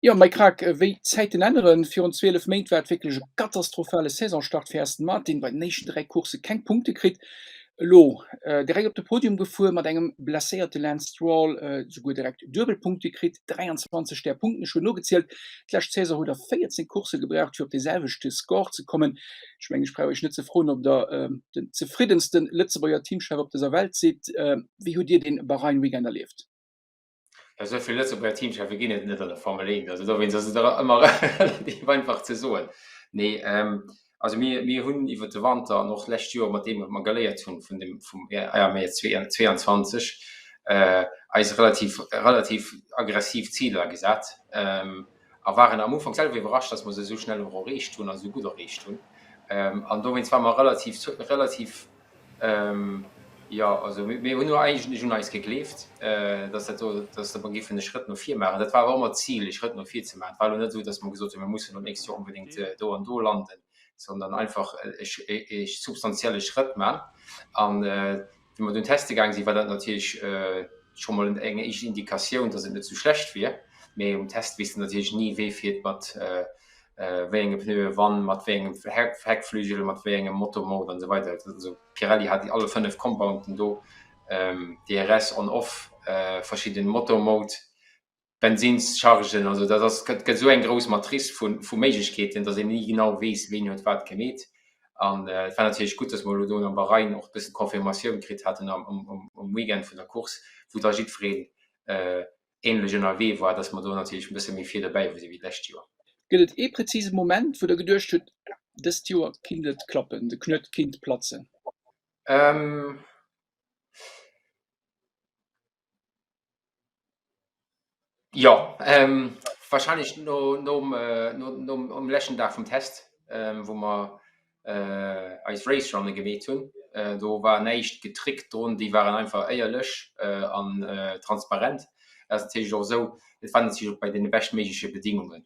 Jo, Mike Krack, wéi d'Zäiten änneren, Virun 12 Méint war et wierklech e katastrophale Saisonstart fir Aston Martin, bei den éischten dräi Coursse keng Punkte kritt, elo direkt op de Podium gefuer, mat engem blesséierte Lance Stroll esouguer direkt duebel Punkte kritt, 23 där Punkten, ech hunn nogezielt, d'lescht Saison hutt Der 14 Coursse gebraucht fir op dee selwechte Score ze kommen. Ech mengen, ech brauch Iech net ze froen, ob Der den zefriddenste Lëtzebuerger Teamchef op dëser Welt sidd. Wéi hutt Dir dee Bahrain-Weekend erlieft? Ja, esou vill Lëtzebuerger Teamcheffe ginn et net an der Formel 1, also dowéinst ass et och ëmmer relativ einfach ze soen. Nee, also mir, mir hunn iwwer de Wanter an och d'lescht Joer, mat deem wat mer geléiert hunn vun dem, vum AMR 22, eis relativ, relativ aggressiv Ziler gesat. A waren am Ufank selwer iwwerrascht, dass mer se esou schnell och erreecht hunn, also esou gutt erreecht hunn. An dowéinst ware mer relativ, relativ, jo, also mir hunn jo eigentlech un eis gegleeft, dass dat do, dass mer géifen e Schrëtt no vir maachen. Dat war awer ëmmer d'Zil, e Schrëtt no vir ze maachen. Et war elo net esou, dass mer gesot hunn, mir mussen dat nächst Joer onbedéngt do an do landen, sondern einfach e substantielle Schrëtt maachen. Wéi mer do an den Test gaange sinn, war dat natierlech scho mol eng éischt Indikatioun, dass et net sou schlecht wier. Mee um Test weess de natierlech ni, wee fiert mat wéi enge Pneuen, wann, mat wéi engem Heckflügel, mat wéi engem Motormode an esou weider. Also Pirelli hat alle fënnef Compounten do, DRS, On-Off, verschidde Motormode. Bensinnschargen, also dat ass, gëtt esou eng grouss Matrice vu vu Méiglechkeeten, datt een ni genau weess, ween huet wat gemeet. An et war natierlech gutt, datt mer elo do an am Bahrain och e bësse Confirmatioun kritt haten am um um Weekend vun der Course, wou da jiddwereen ähnlech ënnerwee war, datt mer do natierlech e bësse méi vir dobäi hu si wéi d'lescht Joer. Gëtt et ee präzise Moment, wou Der geduecht hutt, dëst Joer kinnt et klappen, de Knuet kinnt platzen? Jo warscheinlech nom leschten Dag vum Test, wou mer eis Race Runne gemeet hunn. Do war näischt getrickt drun, déi waren einfach éierlech an transparent. Dat ass natierlech och esou, et war natierlech och bei deene beschtméigleche Bedingungen.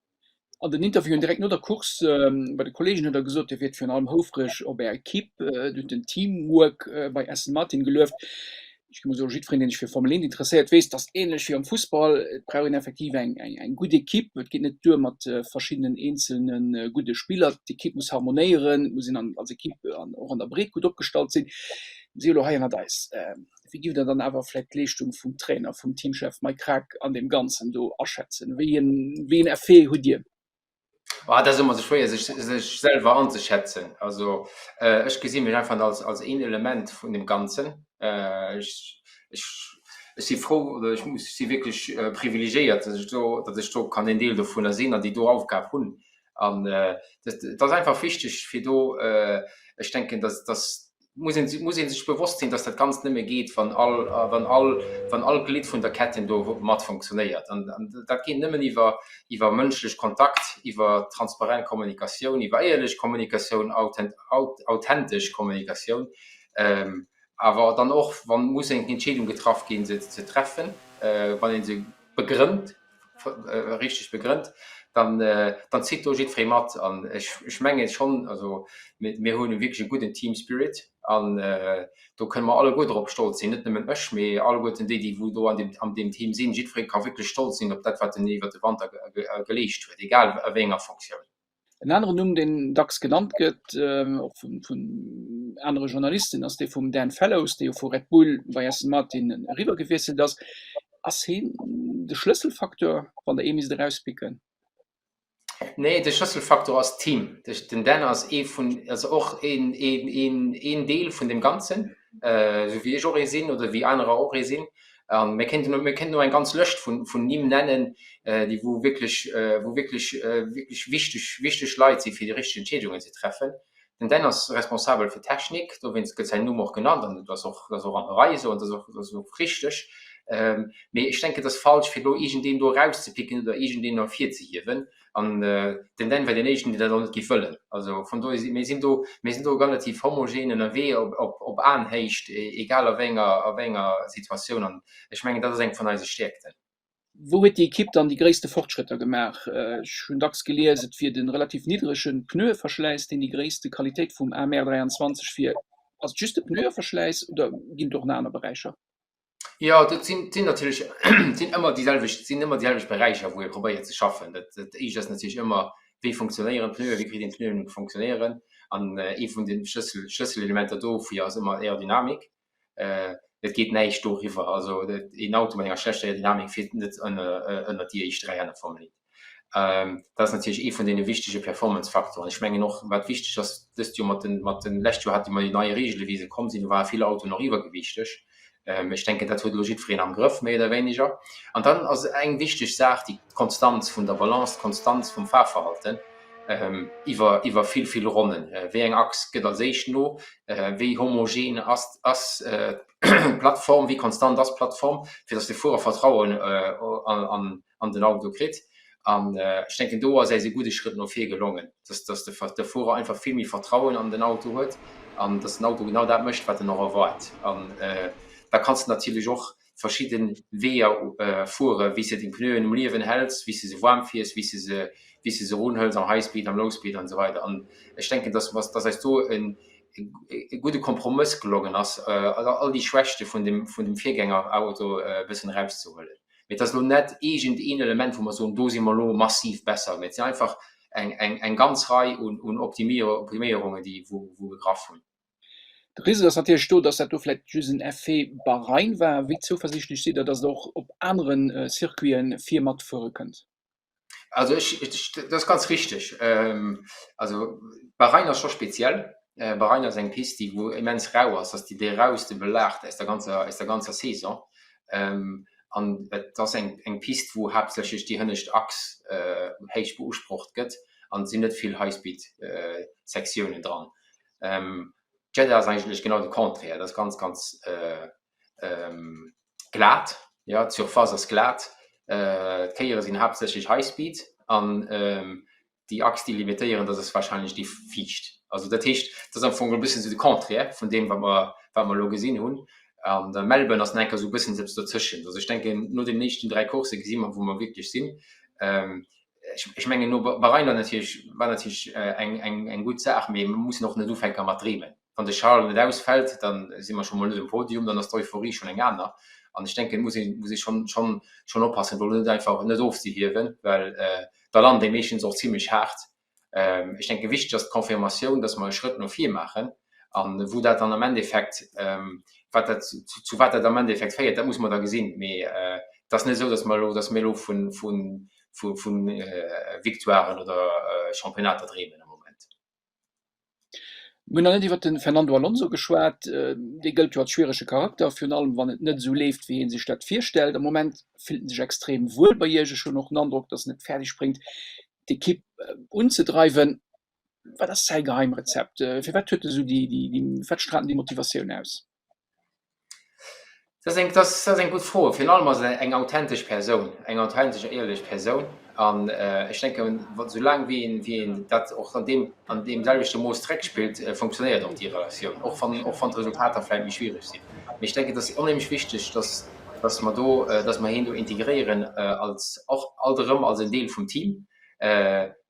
An den Interviewen direkt no der Course bei de Kolleegen huet der gesot, hie wier virun allem houfreg op Är Ekipp, duerch den Teamwork bei Aston Martin gelueft. Ech muss soen, jiddwereen, deen sech fir Formel 1 interesséiert, weess, datt ähnlech wéi am Fussball, et brauch een effektiv eng eng gutt Ekipp. Et geet net duer mat verschiddenen eenzelne gudde Spiller. D'Ekipp muss harmonéieren, et muss een als Ekipp an och an der Breet gutt opgestallt sinn. Si elo hei ënnert eis. Wéi giff der dann awer vläit d'Leeschtung vum Trainer, vum Teamchef Mike Krack an deem Ganzen do aschätzen? Wéi een Effet hutt Dir? Oh, dat ass ëmmer esou schwéier, sech selwer anzeschätzen. Also ech gesi mech einfach als een Element vun deem Ganzen. Ech si frou oder ech muss si wierklech privilegéiert, datt ech do, datt ech do kann een Deel dovunner sinn an déi do Aufgab hunn. An et ass einfach wichteg, fir do, ech denken, datt, datt muss een, muss ee sech bewosst sinn, dass dat Ganzt nëmme geet, wann all, wann all, wann all Glidd vun der Ketten do mat funktionéiert. An dat geet nëmmen iwwer, iwwer mënschlech Kontakt, iwwer transparent Kommunikatioun, iwwer éierlech Kommunikatioun, authentesch Kommunikatioun. Awer dann och, wa muss eng Entscheedung getraff ginn, se ze treffen, wann ee se begrënnt. richteg begrënnt, dann dann zitt do jiddferee mat an ech ech menge schonn, also mir hunn wierklech e gudden Team Spirit an do kënne mer alleguer drop stolz sinn, net nëmmen ech, mee alleguerten déi déi wou do an deem an deem Team sinn. Jiddferee ka wierklech stolz sinn op dat wat en iwwert de Wanter geleescht huet, egal a wéi enger Fonctioun. En aneren Numm, deen dacks genannt gëtt, och vun anere Journalisten, ass dee vum Dan Fellows, dee jo vu Red Bull bei Aston Martin eriwwer gewiesselt ass. Ass heen de Schlësselfacteur, wann der ee misst erauspicken? Nee, de Schlësselfacteur ass d'Team. Den Dan ass ee vun, also och een Deel vun deem Ganzen, esou wéi ech och ee sinn oder wéi anerer och ee sinn. An mir kéinten elo, mir kéinten elo eng ganz Lëscht vun, vun Nimm nennen, déi, wou wierklech, wou wierklech, wierklech wichteg, wichteg Leit si fir déi richteg Entscheedungen ze treffen. Den Dan ass responsabel fir d'Technik, dowéinst gëtt säin Numm och genannt an et ass och, et ass och an der Rei esou an et ass och, et ass och richteg. Mee ech denken, et ass falsch fir elo iergendeen do erauszepicken oder iergendeen ervirzehiewen, An den Dan wär deen éischten, deen dat och net géif wëllen. Also vun dohier si mir sinn do, mir sinn do relativ homogen ënnerwee op Aenhéicht, egal a wéi enger Situatioun. An ech mengen, dat ass eng vun eise Stäerkten. Wou huet déi Ekipp dann déi gréisste Fortschrëtter gemaach? Ech hunn dacks gelies, et wier de relativ niddrege Pneueverschläiss, deen déi gréisste Qualitéit vum AMR 23 wier. Ass et just de Pneueverschläiss oder ginn et och nach aner Beräicher? Jo, dat sinn, sinn natierlech, sinn ëmmer déi selwecht, sinn ëmmer déi selwecht Beräicher, wou ee probéiert ze schaffen. Dat dat éischt ass natierlech ëmmer, wéi funktionéieren d'Pneuen, wéi kritt een d'Pneuen ze funktionéieren? An ee vun de Schlëssel, Schlësselelementer dofir ass ëmmer Aerodynamik. Et geet näischt doriwwer, also een Auto mat enger schlechter Aerodynamik fiert net ënner, ënner déi éischt dräi Hänn am Formel 1. Dat ass natierlech ee vun deene wichtege Performance-Faktoren. Ech mengen och, wat wichteg ass dëst Joer mat den, mat den, lescht Joer hate mer déi nei Reegele wéi se komm sinn, do ware vill Autoen och iwwergewiichteg. Ech denken dat huet elo jiddwereen am Grëff méi oder wéineger. An dann ass eng wichteg Saach déi d'Konstanz vun der Balance, d'Konstanz vum Fahrverhalten iwwer, iwwer vill, vill Ronnen. Wéi eng Achs gëtt als éischt no, wéi homogen ass, ass d'Plattform, wéi konstant ass d'Plattform, fir datt de Fuerer Vertrauen an, an den Auto kritt. An ech denken do ass äis e gudde Schrëtt no vir gelongen, dass dass de de Fuerer einfach vill méi Vertrauen an den Auto huet an dass den Auto genau dat mécht, wat en och erwaart. An da kanns de natierlech och verschidde Weeër fuere wéi s de de Pneuen um Liewen häls, wéi s de se waarm fiers, wéi s de se wéi s de se erunhëls am High Speed, am Low Speed an esou weider. An ech denken, dass mer dass äis do e e gudde Kompromëss gelongen ass, all déi Schwächte vun dem vun dem Virgängerauto e bëssen erauszehuelen. Mee et ass elo net eegent een Element, wou mer soen, do si mer elo massiv besser, mee et sinn einfach eng ganz Rei un Optiméierungen, déi wou gegraff hunn. De Risiko ass natierlech do, dass dat do vläicht just en Effet Bahrain war. Wéi zouversiichtlech sidd Der, dass et och op anere Circuiten vir matfuere kënnt? Also ich, ich, das ist ganz richtig. Ähm, also Bahrain ist schon speziell. Äh, Bahrain ist eng Piste, die wo immens rau ist. Das ist die, die rauste Belacht aus der ganzer, aus der ganzer Saison. Ähm, an et ass eng, eng Piste, wo haaptsächlech déi hënnescht Achs äh, héich beusprocht gëtt. An et sinn net vill Highspeed äh, Sektiounen dran. Ähm, Jeddah ass eigentlech genau de Contraire. Dat ass ganz, ganz äh, glat, jo d'Surface ass glat, d'Kéiere sinn haaptsächlech high speed an déi Achs déi limitéieren dat ass warscheinlech déi viischt. Also dat heescht dat ass am Fong e bëssen esou de Contraire vun deem wat mer wat mer elo gesinn hunn an der Melbourne ass enker esou e bëssen eppes dozwëschent. Also ech denken no deenen éischten dräi Coursse gesi mer wou mer wierklech sinn. Ech mengen no Bahrain war natierlech war natierlech eng eng eng gutt Saach mee mer mussen och net ufänke mat dreemen. wann de Charles net ausfällt, dann si mer scho mol net um Podium, dann ass d'Euphorie schonn eng aner. An ech denken, et muss ee muss ee schonn schonn schonn oppassen, do net einfach net ofzehiewen, well da lant ee meeschtens och zimlech haart. Ech denke wichteg ass d'Confirmatioun, dass mer e Schrëtt no vir maachen. An wou dat dann am Endeffekt, wat dat zu wat dat am Endeffekt féiert, dat muss mer da gesinn. Mee et ass net esou, dass mer elo dass mir elo vu vu vu Victoiren oder Championnater dreemen am Moment. Mir hunn nach net iwwert de Fernando Alonso geschwat. Dee gëllt jo als schwierege Charakter, virun allem wann et net esou leeft, wéi ee sech dat virstellt. Am Moment fillt en sech extrem wuel bei Iech. Ech hunn och den Androck, datt en et fäerdeg bréngt, d'Ekipp unzedreiwen. Wat ass säi Geheimrezept? Firwat huet en esou déi, firwat straalt en déi Motivatioun aus? Dat ass eng, dat ass, dat ass eng gutt Fro. Virun allem ass et eng authentesch Persoun, eng authentesch a éierlech Persoun. An ech denken, wa, soulaang wéi een, wéi een dat och an deem, an deemselwechte Mooss zréckspillt, funktionéiert och déi Relatioun, och wann, och wann d'Resultater vläicht méi schwiereg sinn. Mee ech denken, et ass onheemlech wichteg, dass, dass mer do, dass mer hien do integréieren als, och alt erëm als en Deel vum Team.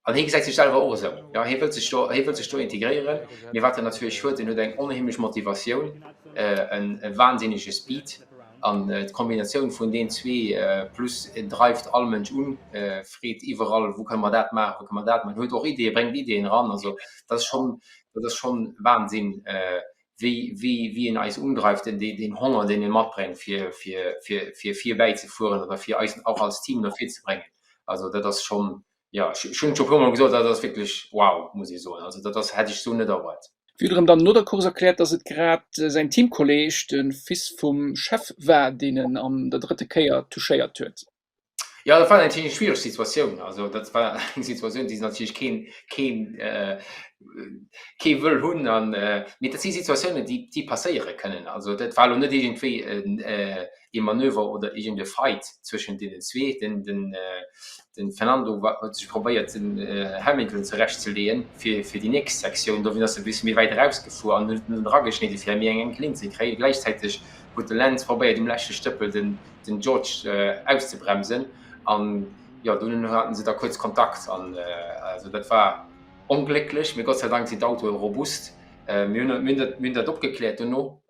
An hie gesäit sech selwer och esou. Jo, hie wëllt sech do, hie wëllt sech do integréieren. Mee wat en natierlech huet, en huet eng onheemlech Motivatioun, e wansinnege Speed. An d'Kombinatioun vun deenen zwee, plus en dreift all Mënsch un, freet iwwerall, wou kënne mer dat maachen, wou kënne mer dat maachen, huet och Ideeë, bréngt Ideeën eran. Also dat ass schonn, dat ass schonn Wansinn, wéi, wéi, wéi en eis undreift, deen, deen, deen Honger, deen e matbréngt, fir, fir, fir, fir virbäizefueren oder fir eis och als Team no vir ze bréngen. Also dat ass schonn, Jo, ech hunn et scho e puer mol gesot, dat ass wierklech wow, muss ee soen. Also dat ass, hätt ech esou net erwaart. Wiederem dann no der Course erkläert, dass et grad säin Teamkolleeg, de Fils vum Chef war, deen en an der drëtte Kéier touchéiert huet. Jo, dat war natierlech eng schwiereg Situatioun. Also dat war eng Situatioun, déi natierlech keen, keen, kee wëll hunn an, mee dat si Situatiounen, déi, déi passéiere kënnen. Also dat war elo net iergendwéi en, ee Manöver oder iergend e Fight zwëschent deenen zwee. Den Fernando huet sech probéiert den Hamilton zerecht ze leeën fir déi nächst Sektioun. Dowéint ass e bësse méi wäit eraus gefuer an huet en erageschnidde fir méi eng enk Linn ze kréien. Gläichzäiteg huet de Lance probéiert um leschte Stëppel den George auszebremsen an jo dono haten se da kuerz Kontakt an also dat war onglécklech mee Gott sei Dank sinn d'Autoe robust. Mir hunn dat opgekläert dono.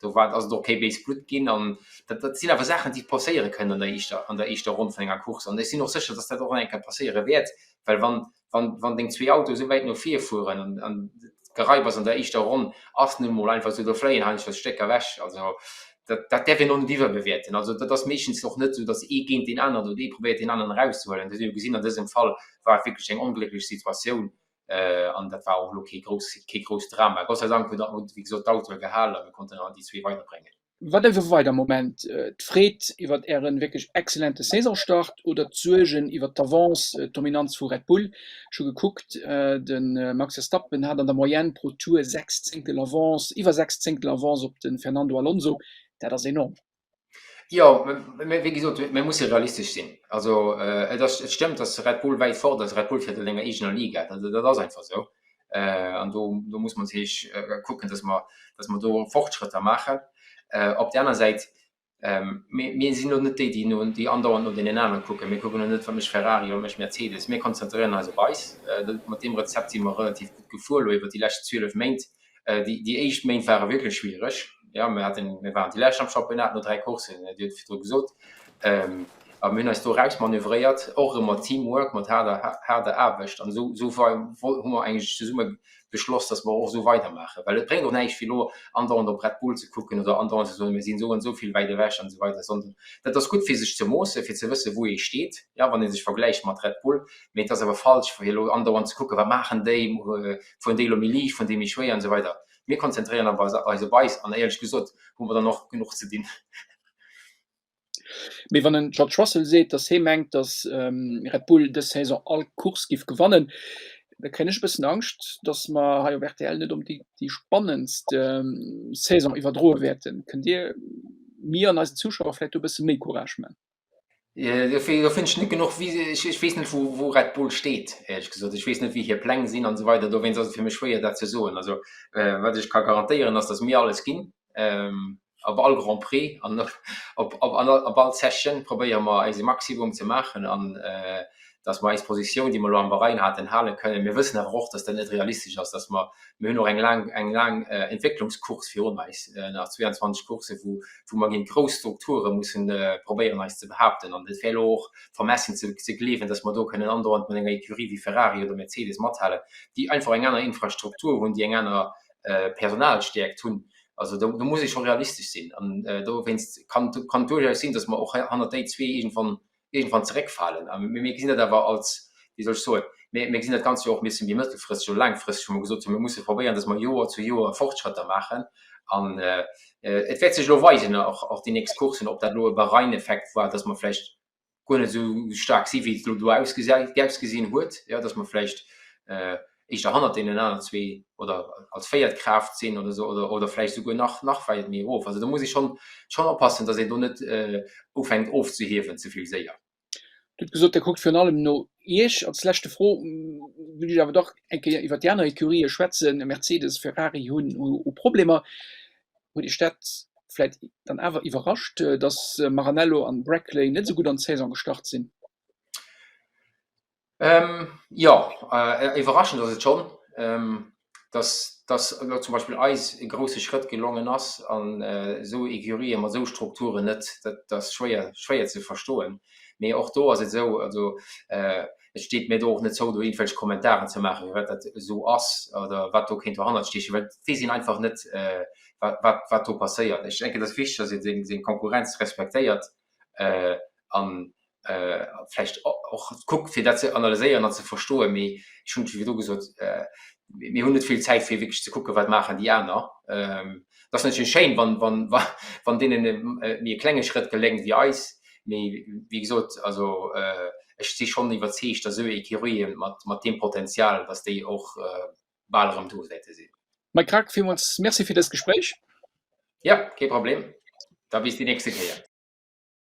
do war, ass et och kee béis Blutt ginn. An dat, dat sinn awer Saachen, déi passéiere kënnen an der éischter, an der éischter Ronn vun enger Course. An ech sinn och sécher, dass dat och nach eng Kéier passéiere wäert, well wann, wann, wann deng zwee Autoe esou wäit no vir fueren an, an d'Geraiwers an der éischter Ronn ass nun emol einfach esou, do fléien heiansdo Stécker ewech. Also dat, dat däerf een och net iwwerbewäerten. Also dat ass meeschtens och net esou, dass ee géint deen aneren oder ee probéiert deen aneren erauszehuelen. Dat hu mir jo gesinn, an dësem Fall war et wierklech eng onglécklech Situatioun, An dat war och elo kee grousst, kee grousst Drama. Gott sei Dank huet dat Moto, wéi gesot, d'Autoe gehalen a mir konnten dann déi zwee weider bréngen. Wat ass elo weider am Moment? D'Freed iwwert Äre wierklech exzellente Saisonstart oder d'Suergen iwwert d'Avance, d'Dominanz vu Red Bull? Ech hu gekuckt, de Max Verstappen hat an der Moyenne pro Tour sechs Zéngtel Avance, iwwer sechs Zéngtel Avance op de Fernando Alonso. Dat ass enorm. Jo, mä wéi gesot, mir musse realistesch sinn. Also et ass, et stëmmt, datt Red Bull wäit fort ass. Red Bull fäert a senger eegener Liga, dat, dat ass einfach esou. An do, do muss mer natierlech kucken, datt mer, datt mer do Fortschrëtter maachen. Op där aner Säit, mir, mir sinn elo net déi, déi no, déi andauernd no deenen anere kucken. Mir kucken elo net, wat mécht Ferrari, wat mécht Mercedes. Mir konzentréieren eis op eis. Mat deem Rezept si mer relativ gutt gefuer elo iwwer déi lescht 12 Méint. Déi éischt Méint ware wierklech schwiereg. Jo, mir haten, mir waren déi lescht am Championnat no dräi Courssen, Dir hutt et virdru gesot. A mir hunn eis do erausmanövréiert, och erëm mat Teamwork, mat haarder, haarder Aarbecht. An esou, esou wei, wei hu mer eigentlech zesumme beschloss, dass mer och esou weidermaachen. Well et bréngt och näischt, fir elo andauernd op Red Bull ze kucken oder andauernd ze soen, mir sinn esou an esou vill wäit ewech an esou weider, sondern dat ass gutt, fir sech ze moossen, fir ze wëssen, wou ee steet, jo, wann ee sech vergläicht mat Red Bull. mee et ass awer falsch fir elo andauernd ze kucken, wat maachen déi, fueren déi elo méi liicht, fueren déi méi schwéier an esou weider. Mir konzentréieren eis op eis an éierlech gesot hu mer dann och genuch ze dinn. Mee wann den George Russell seet, datt hee mengt, datt Red Bull dës Saison all Course géif gewannen, da kréien ech e bëssen Angscht, datt mer hei op rtl net onbedéngt déi spannendst Saison iwwerdroe wäerten. Kënnt Dir mir an eisen Zuschauer vläicht do e bësse méi Courage man? Do fënnt ech net genuch, ech weess net wou Red Bull steet, éierlech gesot. Ech weess net wéi hir Pläng sinn an esou weider, dowéinst ass et fir mech schwéier dat ze soen. Also wat ech ka garantéieren ass, datt mir alles ginn op all Grand Prix an op all Session probéiere mer eise Maximum ze maachen an dass mer eis Positioun, déi mer elo am Bahrain haten, hale kënnen. Mir wëssen awer och, dass dat net realistesch ass, dass mer, mir hunn och eng laang, eng laang Entwécklungscourse virun eis, nach 22 Coursse, wou, wou mer géint grouss Strukture musse probéieren eis ze behaupten. An et wär elo och vermessen ze, ze gleewen, dass mer do kënnen andauernd mat enger Ecurie wéi Ferrari oder Mercedes mathalen, déi einfach eng aner Infrastruktur hunn, déi eng aner Personalstäerkt hunn. Also do, do muss ee scho realistesch sinn. An dowéinst kann, kann duerchaus sinn, dass mer och hannert déi zwee iergendwann iergendwann zeréckfalen. A mir gesinn dat awer als, wéi soll ech soen, mir, mir gesinn dat Ganzt jo och e bisse méi mëttelfristeg oder laangfristeg, wou mer gesot hunn, mir musse probéieren, datt mer Joer zu Joer Fortschrëtter maachen. An et wäert sech elo weisen, och, och déi nächst Courssen, ob dat elo e Bahrain-Effekt war, datt mer vläicht guer net esou staark si wéi et elo do ausgesäit, ausgesinn huet, jo, datt mer vläicht, éischter hannert deenen aner zwee oder als véiert Kraaft sinn oder esou oder vläicht esouguer nach nach wäit méi erof. Also do muss ee schonn schonn oppassen, datt een do net ufänkt ofzehiewen ze vill séier. Dir hutt gesot, Dir kuckt virun allem no Iech. Als leschte Fro wëll ech awer dach eng Kéier iwwert déi aner Ecurië schwätzen. Mercedes, Ferrari hunn hu Problemer. Huet Iech dat vläicht dann awer iwwerrascht, datt Maranello an Brackley net esou gutt an d'Saison gestart sinn? Jo, iwwerraschend ass et schonn, dass elo zum Beispill eis e grouse Schrëtt gelongen ass an esou Ecurien mat esou Strukturen net, dat ass schwéier, schwéier ze verstoen. Mee och do ass et esou, also et steet mir do och net zou, do iergendwelch Kommentaren ze maachen, firwat dat esou ass oder wat do kéint dohannert stiechen, well et weess een einfach net, wat, wat do passéiert. Ech denken, et ass wichteg, dass ee seng Konkurrenz respektéiert. an vläicht och kuckt, fir dat ze analyséieren an ze verstoen. Mee ech hunn et virdu gesot, Mir hunn net vill Zäit, fir wierklech ze kucken, wat maachen déi aner. Et ass natierlech schéin, wann deenen méi e klenge Schrëtt geléngt wéi eis. Mee wéi gesot, also ech si schonn iwwerzeegt, datt esou ee Kiroye mat deem Potenzial, datt déi och bal erëm do wäerte sinn. Mike Grag, villmools Merci fir dëst Gespréich. Jo, kee Problem. Da bis déi nächste Kéier.